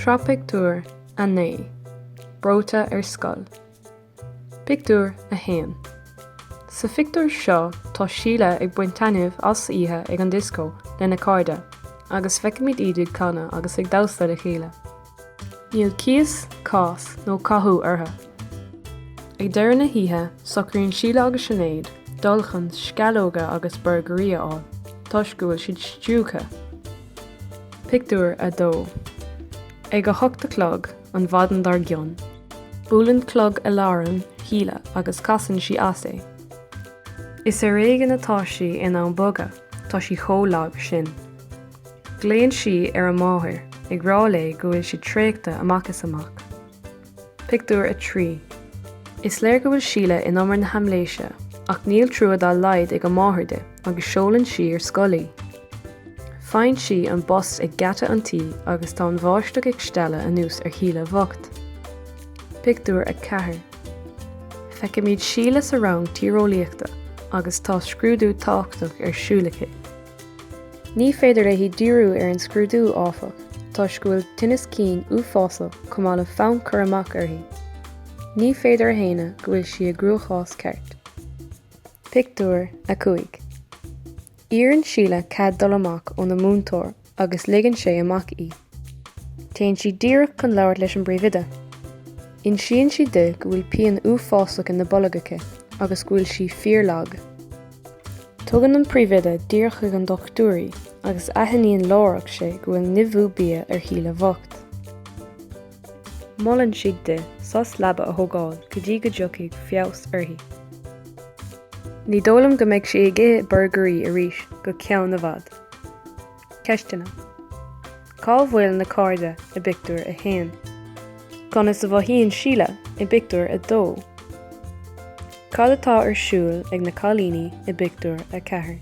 Sraith Pictiúr 9 Breoite ar Scoil Pictiúr 1 Sa phictiúr seo tá Síle ag baint taitneamh as oíche ag an dioscó lena cairde agus feicimid iad ag canadh agus ag damhsa le chéile. Níl cíos, cás nó cathú orthu. Ag deireadh na hoíche, socraíonn Síle agus Sinéad dul chun sceallóga agus borgairí a fháil toisc go bhfuil siad stiúgtha. Pictiúr 2 Ag a hocht a chlog an mhaidin dár gcionn, buaileann clog aláraim Shíle agus casann sí as é. Is ar éigean atá sí in ann bogadh, tá sí chomh lag sin. Glaonn sí ar a máthair, ag rá léi go bhfuil sí traochta amach is amach. Pictiúr 3 Is léir go bhfuil Síle in umar na haimléise, ach níl trua dá laghad ag a máthair di agus seolann sí ar scoil í. Faigheann sí an bus ag geata an tí agus tá an bháisteach ag stealladh anuas ar Shíle bhocht. Pictiúr 4 Feicimid Síle sa rang tíreolaíochta agus tá scrúdú tábhachtach ar siúl aici. Ní féidir léi díriú ar an scrúdú, áfach, toisc go bhfuil tinneas cinn uafásach chomh maith le fonn cur amach uirthi. Ní féidir a shéanadh go bhfuil sí i gcruachás ceart. Pictiúr 5 Iarrann Síle cead dul amach óna múinteoir agus ligeann sé amach í. Téann sí díreach chun labhairt leis an bpríomhoide. Insíonn sí di go bhfuil pian uafásach ina bolg aici agus go bhfuil sí fíorlag. Tugann an príomhoide díreach chuig an dochtúir í agus aithníonn láithreach sé go bhfuil nimhiú bia ar Shíle bhocht. Molann sí di sos leaba a thógáil go dtí go dtiocfaidh feabhas uirthi. Ní dóigh liom go mbeidh sí ag ithe borgairí arís go ceann i bhfad. Ceisteanna, Cá bhfuil na cairde i bpictiúr a haon? Conas a mhothaíonn Síle i bpictiúr a dó? Cad atá ar siúl ag na cailíní i bpictiúr a ceathair?